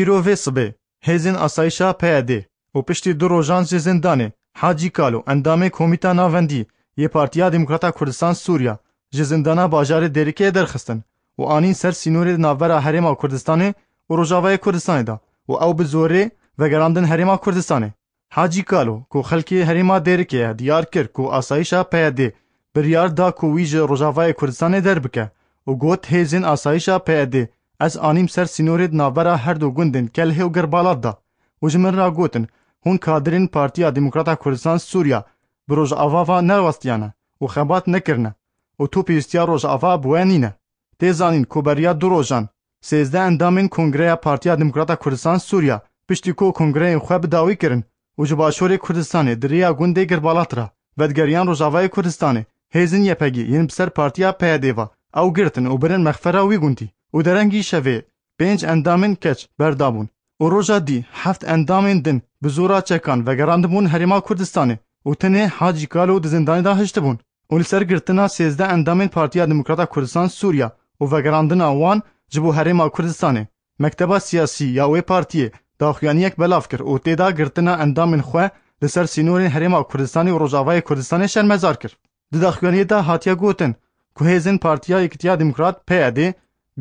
Îro vê sibê hêzên asayîşa PYDê û piştî du rojan ji zindanê Hacî Kalo endamê Komîta Navendî yê Partiya Demokrata Kurdistan Sûriya ji zindana bajarê Dêrikê derxistin û anîn ser sînorê di navbera Herêma Kurdistanê û Rojavayê Kurdistanê de û ew bi zorê vegerandin Herêma Kurdistanê. Hacî Kalo ku xelkê herêma Dêrikê ye diyar kir ku asayîşa PYD biryar da ku wî ji Rojavayê Kurdistanê derbike û got, Hêzên asayîşa PYD ez anîm ser sînorê di navbera her du gundên Kelhê û Girbalat de û ji min re gotin, hûn kadirên Partiya Demokrata Kurdistan Sûriya bi Rojava ve nerawestiyane û xebat nekirine û tu pêwîstiya Rojava bi we nîne. Tê zanîn ku beriya du rojan sêzdeh endamên Kongreya Partiya Demokrata Kurdistan Sûriya piştî ku kongreyên xwe bi dawî kirin û ji başûrê Kurdistanê di rêya gundê Girbalat re vedigeriyan Rojavayê Kurdistanê, hêzin YPG yên bi ser partiya PYD'ê ve ew girtin û birin mexfera wî gundî û derengî şevê pênc endamên keç berdabûn û roja dî heft endamên din bi zora çekan vegerandibûn Herêma Kurdistanê û tenê Hacî Kalo di zindanê de hiştibûn û li ser girtina sêzdeh endamên Partiya Demokrata Kurdistan Sûriya û vegerandina wan ji bo Herêma Kurdistanê, mekteba siyasî ya wê partiyê daxuyaniyek belav kir û tê de girtina endamên xwe li ser sînorên Herêma Kurdistanê û Rojavayê Kurdistanê şermezar kir. Di daxuyaniyê de hatiye gotin ku hêzên Partiya Yekitiya Demokrat, PYDê,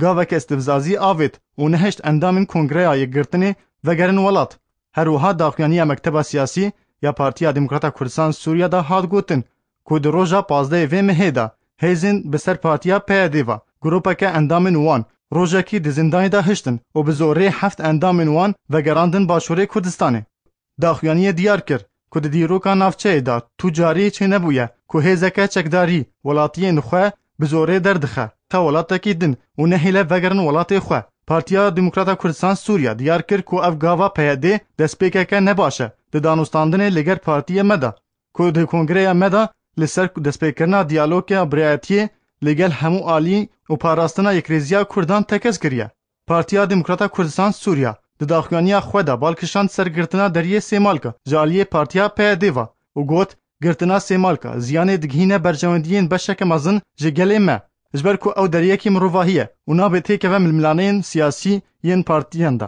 gavek istifzazî avêt û nehişt endamên Kongreya Yekgirtinê vegerin welat. Her wiha daxuyaniya Mekteba Siyasî ya Partiya Demokrata Kurdistan Sûriye de hat gotin ku di roja pazdehê vê mehê de hêzên bi ser Partiya PYDê ve grûpeke endamên wan rojekî di zindanê de hiştin û bi zorê heft endamên wan vegerandin Başûrê Kurdistanê. Daxuyaniyê diyar kir ku di dîroka navçeyê de tu carî çênebûye ku hêzeke çekdarî welatiyên xwe bi zorê derdixe xew welatekî din û nehêle vegerin welatê xwe. Partiya Demokrata Kurdistan Sûriye diyar kir ku ev gava PYD destpêkeke ne baş e di danûstandinê li ger partiyê me de ku di kongreya me de li ser destpêkirina diyaloga birayetiyê li gel hemû aliyî û parastina yekrêziya kurdan tekez kiriye. Partiya Demokrata Kurdistan Sûriya di daxuyaniya xwe de bal kişand ser girtina deriyê Sêmalka ji aliyê partiya PYD'ê ve û got, Girtina Sêmalka ziyanê digihîne berjewendiyên beşeke mezin ji gelê me. Ji ber ku ew deriyekî mirovahî ye û nabe têkeve milmilaneyên siyasî yên partiyan de.